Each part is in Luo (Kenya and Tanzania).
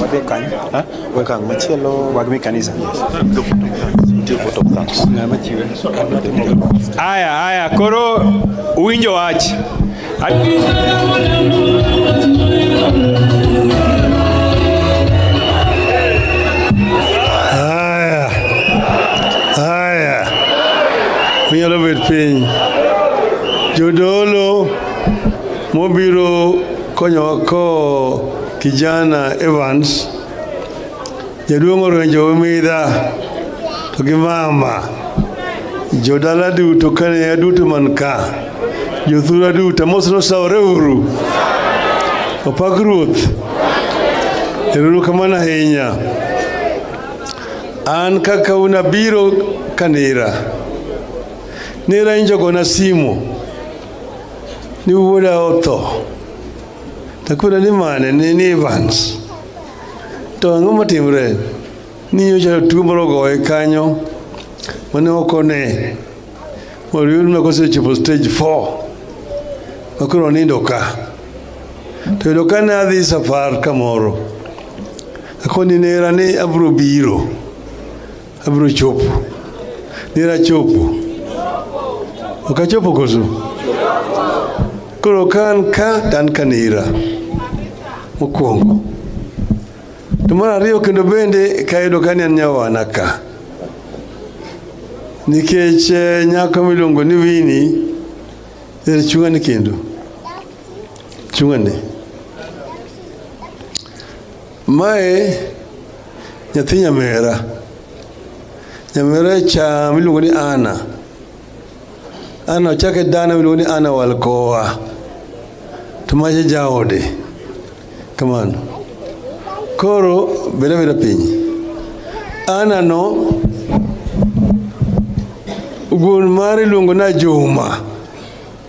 Wadhi kany. Wekang machielo. Wagmi kanisa. Aya, aya, koro uwinjo wach. Haya, haya, unyalo bet piny. Jodolo Mobiro konyowa ko kijana Evans jaduong' orenjo midha to gi mama jodala duto kane aduto man ka jothura duto mos nosawore uru opak ruoth eruru kamano ahinya an kaka unabiro kanira nira injogona simo ni wuoda otho takwira ni mane ni ni Evans to ang'o matimre ni nyocha tuo moro ogoye kanyo mane ok one moriyud ma kosechopo stage 4 ma koro onindo ka to yudo ka ne adhi safar kamoro akoni nera ni abiro biro Abiro chopo. Nira chopo. Ok achopo koso? Koro ka an ka to an ka nira. Mokwongo. To mar ariyo kendo bende kayudo ka ni an nyawana ka. Nikech eh, nyako miluongo ni Wini er chung'ani kendo. Chung'ani. Mae nyathi nyamera, nyamera cha miluongo ni Ana. Ana ochake dana miluongo ni Ana Walkowa, to mache jaode kamano. Koro beda beda piny. Ana no gun mare iluongo na Juma.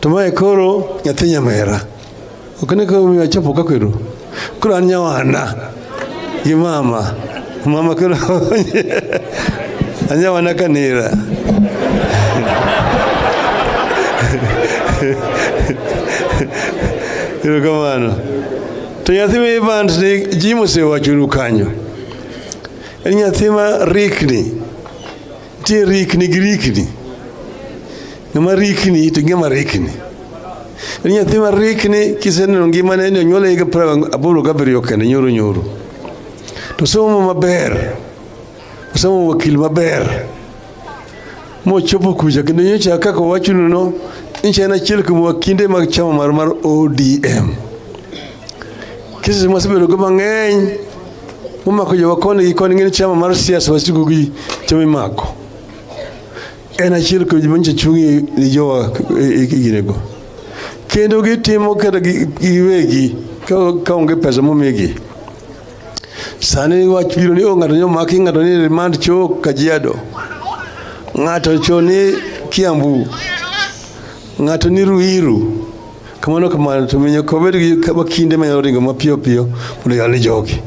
to mae koro nyathi nyamera ok ne koro miyo achopo ka kweru koro an nyawana gi mama mama koro anyawana kanira erokamano to nyathi ma evans ni ji mosewachonu kanyo en nyathi ma rikni Nitie rikni gi rikni. Ng'ama rikni to ng'ama rikni. En nyathi ma rikni kiseneno ngimane ni onyuole higa piero aboro gabiriyo kende nyoro nyoro. To somo maber. Osomo wakil maber. Mochopo kucha kendo nyocha kaka owachonu no nchi en achiel kuom wakinde mag chama mar mar ODM. Kesi masebedogo mang'eny Mumako jowa koni gi koni ng'eni chama mar siasa wasigu gi chama imako. En achiel kuom joma nyicha chungi ni jowa e ginego. Kendo gitimo kata giwegi ka onge pesa momigi. Sani wach biro ni o ng'ato nyomaki ng'ato ni remand cho Kajiado. Ng'ato cho ni Kiambu. Ng'ato ni Ruiru. kamano kamano to miyo kobed gi kama kinde manyalo ringo mapiyo piyo mondo yal ni jogi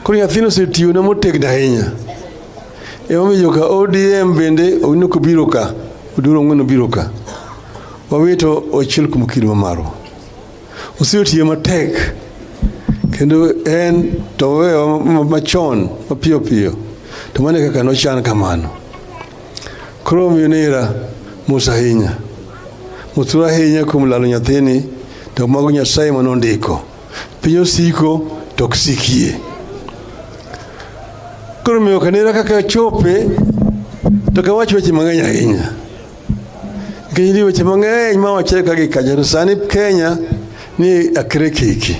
koro nyathino osetiyona motegno ahinya emomiyo joka odm bende onino kobiro ka oduro ng'wen obiro ka wawito ochiel kuom kido ma marwa osetiyo matek kendo en to wewa machon mapiyo piyo to mane kaka nochan kamano Koro omiyo nera mos ahinya mothuru ahinya kuom lalo nyathini to mago nyasaye ma nondiko piny osiko to ok sikie koro omiyo kanera kaka chope to kawach weche mang'eny ahinya nikech nitie weche mang'eny ma wachre ka gi kacha to sani kenya ni akre kiki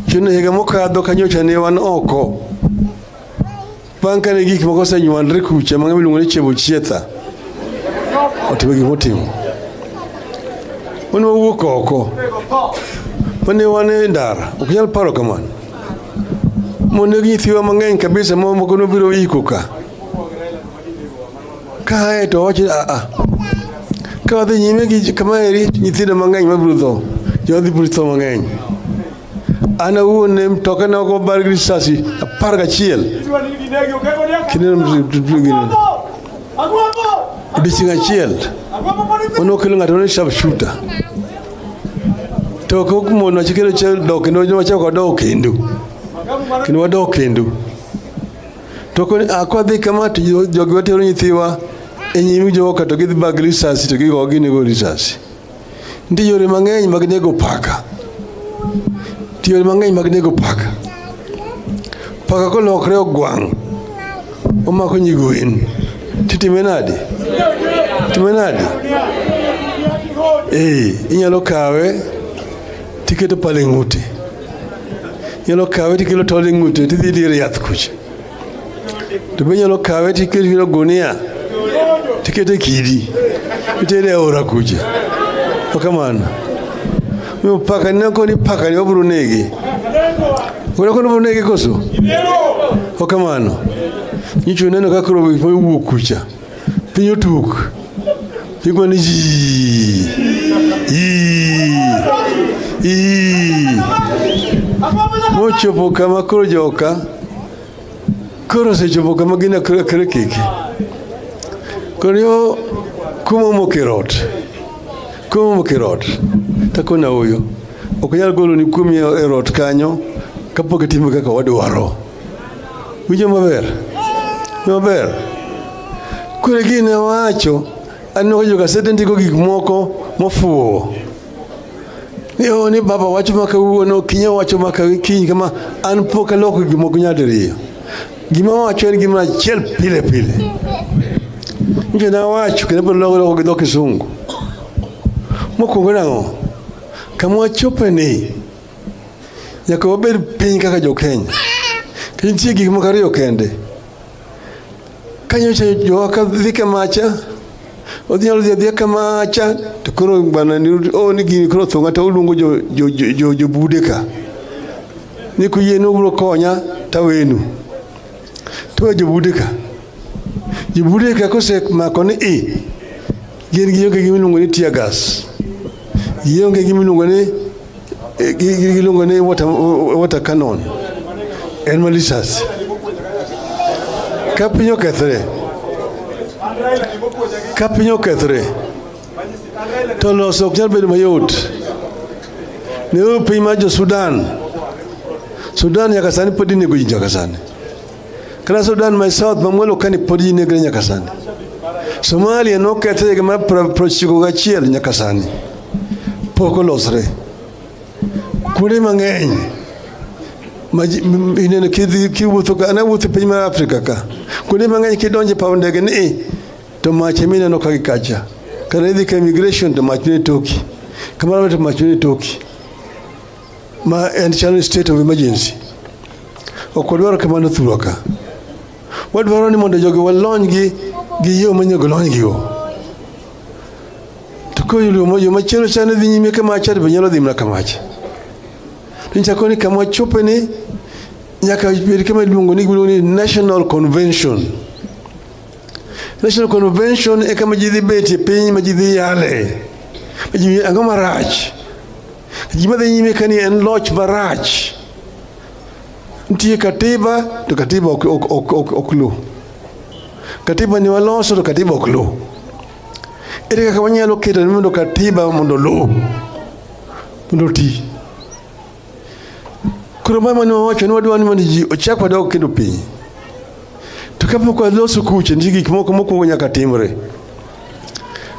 chuno higa mokadho kanyocha ne wan oko Pankane gik moko osenywandre kucha mang'ama iluongo ni Chebochietha otimo gik motimo. Wan wawuok oko mane wan e ndara, ok nyal paro kamano. Moneg nyithiwa mang'eny kabisa ma moko nobiro iko ka kae to wacho a a ka wadhi nyime gi kama eri nyithindo mang'eny mabiro tho jodhi biro tho mang'eny An awuon ne mtokena ok obar gi risasi apar gachiel odiechieng' achiel mane okelo ng'ato ne sharp shooter to ok mon wacho kendo che dok kendo wacho ko dok kendo kendo wadok kendo to ko akwa dhi kama to jogi watero nyithiwa e nyimi joka to gidhi bag risasi to gigo ginego risasi Nitie yore mang'eny mag nego paka. Nitie yore mang'eny mag nego paka. Paka kolokre ogwang' omako nyigwen titime nade? Time nade? Ee, inyalo kawe tiketo pale ng'ute, inyalo kawe tiketo tol e ng'ute tidhi dir yath kucha to be nyalo kawe to ikete kiro gunia to ikete kidi itere e aora kucha okamano miyo paka nina koni paka ni wabro negi wena koni wabro negi koso okamano nyicho neno kakro wuok kucha piny otuk igwa ni yii yii yii mochopo kama koro joka koro osechopo kama gin akre keke koro yo kuma omoko e rot kuma omoko e rot takona oyo ok nyal golo ni kuomi e rot kanyo kapok itimo kaka wadwaro Winjo maber? Maber. Kure gini wacho aneno ka jogasede ndiko gik moko mofuwo ni o ni baba wacho ma kawuono kinya wacho ma kawi kiny kama an pok aloko gik moko nyadiriyo gima wacho en gima achiel pile pile nje na wacho kendo pod loko loko gi dho kisungu mokwongo nang'o kama wachope ni Nyaka wabed piny kaka jo-Kenya. To nitie gik moko ariyo kende. Ka nyocha jowa ka dhi kamacha, odhi nyalo dhi adhiya kamacha, to koro bana ni o ni gini koro thonga to uluongo jo- jo- jo- jo- jobude ka. Ni kuyie ni ubiro konya tawenu. To we jobude ka. Jobude ka kosemako ni i, Gin gionge gi miluongo ni tear gas. Gionge gi miluongo ni eh, gi- gi- giluongo ni water, water cannon. En ma lisasi. Ka piny okethre, ka piny okethre, to loso ok nyal bedo mayot. Ne piny mar jo Sudan. Sudan nyaka sani pod inego ji nyaka sani. Kata Sudan ma South ma mwalo kani pod ji negre nyaka sani. Somalia nokethre higa mar prochiko gachiel nyaka sani pok olosre. Kuonde mang'eny ineno kiwuotho ka ana wuotho piny mar Afrika ka kuonde mang'eny kidonje paw ndege ni to mach ema ineno ka gikacha kata idhi ka immigration to mach ne toki kamano to mach ne toki ma en chalo state of emergency ok wadwaro kamano thurwa ka wadwaro ni mondo jogi walonygi gi yo manyago lonygigo to koyudo yo machielo chane dhi nyime kama chad be nyalo dhi mana kamach to nchako ni kama chope ni nyaka bed kama iluongo ni national convention National Convention e kama ji dhi bet e piny ma ji dhi yale ma ji ang'o marach ji madhi nyime ka ni en loch marach nitie katiba to katiba ok, ok, ok, ok, ok lu katiba ni waloso to katiba ok lu ere kaka wanyalo keto ni mondo katiba mondo lu mondo ti Koro mama ne wawacho ni wadwa ni mondo ji ochak wadog kendo piny. To kapok waloso kuche, nitie gik moko mokwongo nyaka timre.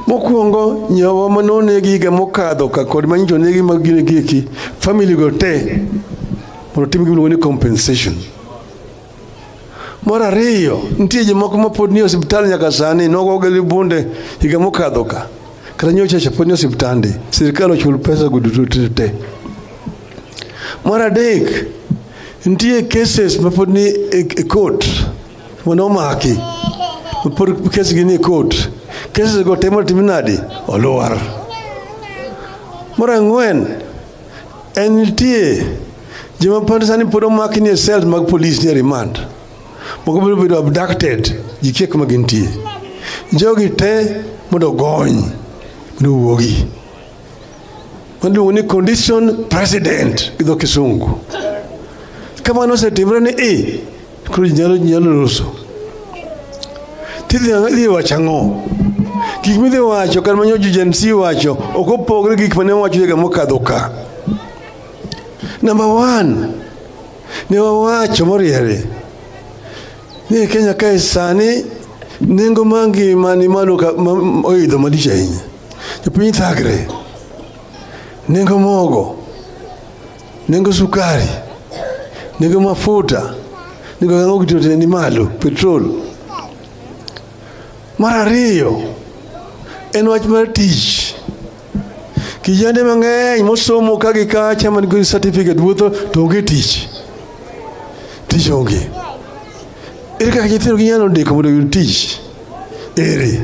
Mokwongo nyawa ma nonegi higa mokadho ka kod manyicho negi mag gine gieki, family go te mondo tim gimiluongo ni compensation. Mar ariyo, nitie jomoko ma pod nie osiptal nyaka sani, nogogi gi bunde higa mokadho ka. Kata nyocha cha pod nie osiptande, sirkal ochul pesa go duto te te. Mar adek, nitie cases ma pod ni e e court ma nomaki, ma pod kesgi ni e court. Cases go te matim nadi? Olwar. Mar ang'wen, en nitie Joma pande sani pod omaki nie cells mag police nie remand. Moko biro bedo abducted ji kia kuma gintie. Jogi te mondo ogony mondo owuogi. Waluongo ni condition president gi dho kisungu. Kamano osetimre ni i koro ji nyalo nyalo loso. Tidhi idhi wacho ang'o? Gik midhi wacho kar manyo ji Gen Z wacho ok opogre gi gik mane wacho higa mokadho ka. Number one, ne wawacho moriere ni Kenya kae sani nengo mar ngima ni malo ka- ma- ma- oidho malich ahinya. Jopiny thagre, nengo mogo, nengo sukari, nengo mafuta, nengo gang'o gitote ni malo, petrol. Mar ariyo en wach mar tich. Kijende mang'eny mosomo ka gi kacha man gi certificate wuotho to onge tich. Tich onge. Ere kaka nyithindo ginyalo ndiko mondo oyud tich? Ere.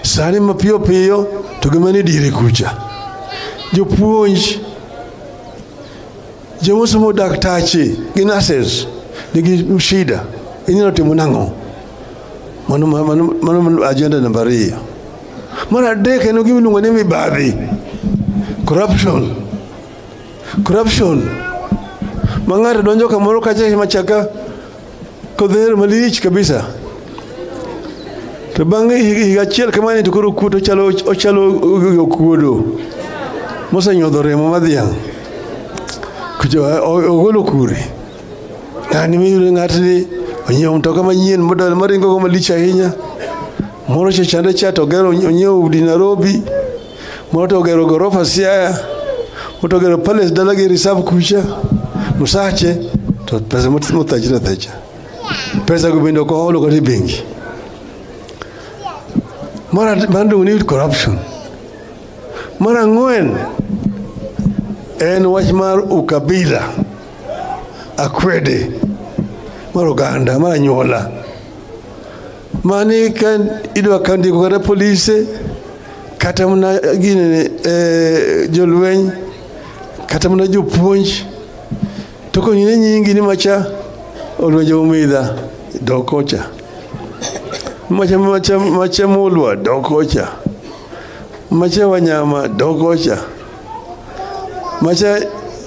Sani mapiyo piyo to gima ni dire kucha. Jopuonj joma osomo daktache gi nurses nigi shida. Inyalo timo nang'o? Mano, mano, mano ajenda namba ariyo. Mar adek en gima iluongo ni mibadhi, corruption. Corruption ma ng'ato donjo kamoro kacha machaka kodhero malich kabisa to bang' higa achiel kamani to koro kuot ochalo ochalo okuodo mosenyodho remo madhiang' ogolo kure Ng'ani miyudo ng'atni onyiewo mtoka manyien model maringo go malich ahinya. Moro cha chande cha to ogero onyiewo udi Nairobi. Moro to ogero gorofa Siaya. Moro to ogero palace dalagi reserve kucha. Musache to pesa mothachre athacha. Pesa go bende ok oholo kata e bengi. Mara bandung ni corruption. Mara ang'wen en wach mar ukabila. akwede mar oganda mar anyuola mani ka idwa ka ndiko kata polise kata mana gine eh, jolweny kata mana jopuonj to konyine nyingi ni macha olwenje umidha dokocha macha macha macha mulwa dokocha macha wanyama dokocha macha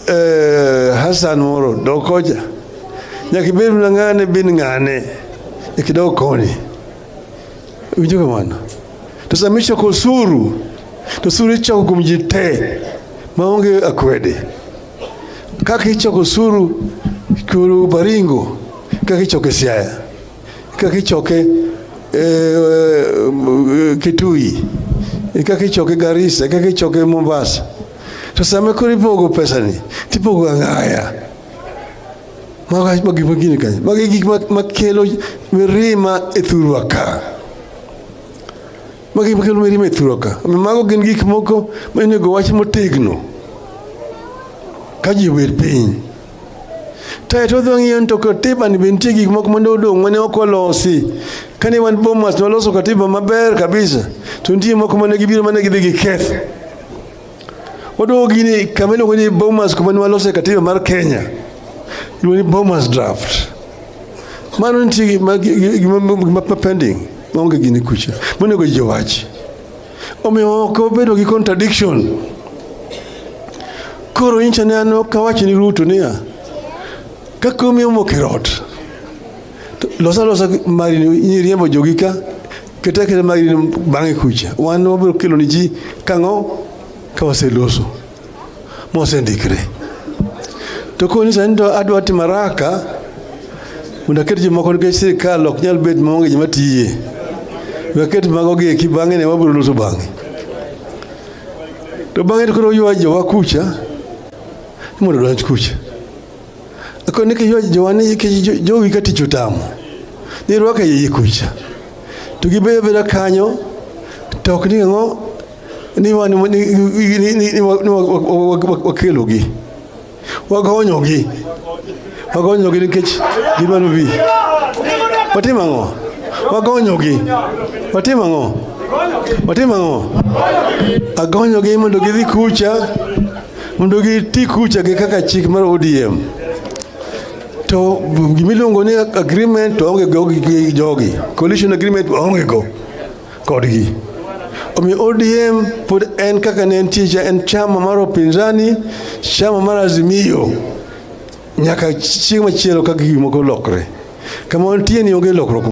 eh, Hassan moro dokoja nyaka ibed na ng'ane bin ng'ane ikidog koni winjo kamano to sama ichoko osuru to osuru ichoko kuom ji te maonge akwede kaka ichoko osuru kuru baringo kaka ichoko e siaya Kaka ichoke e, e, Kitui, e, kaka ichoke Garissa, kaka ichoke Mombasa. To sama koro ipogo pesani, tipogo ang'aya. Mago ma gik magini kanyo. Mago gik makelo mirima e thurwa ka. Mago gik makelo mirima e thurwa ka. Mago gin gik moko monego wach motegno. Ka ji obet piny. Tayo to odhi ng'iyo ni to katiba ni be nitie gik moko mane odong' mane ok olosi. Kane wan Bomas ne waloso katiba maber kabisa to nitie moko mane gibiro mane gidhi giketho. Waduogo gini kama iluongo ni Bomas kuma ne walose katiba mar Kenya. Iluongo ni Bomas draft. Mano nitie gima gima pending maonge gini kucha. Monego ji owach. Omiyo ok obedo gi contradiction. Koro incha ne an ok awach ni Ruto niya, ka komi omoko e ot, to losa losa mari ni riembo jogi ka keta keta mari ni bang'e kucha. Wan wabiro kelo ni ji kang'o ka waseloso. mosendikre. To koni sani to adwa timo haraka mondo aket jomoko nikech sirikal ok nyal bet maonge joma tiye. We aket mago gi eki bang'e ne wabiro loso bang'e. To bang'e to koro ywa jowa kucha ni mondo odonj kucha. Ako ni kijo jowani kijo jowi ka tich otamo. Ni rwaka yeye kucha. To gibedo beda kanyo to ok ni ang'o ni wan ni ni- ni- ni- ni wa- ni wa- wa- wa- wa- wakelogi. Wagonyogi. Wagonyogi nikech gidwaro bi. Watimo ang'o? Wagonyogi. Watimo ang'o? Watimo ang'o? Agonyogi mondo gidhi kucha mondo giti kucha gi kaka chik mar ODM to gimiluongo ni agreement to onge go gi jogi coalition agreement onge go kodgi omiyo ODM pod en kaka ne entie cha en chama mar opinzani chama mar Azimio nyaka chieng' machielo ka gik moko lokre kama wantie ni onge lokruok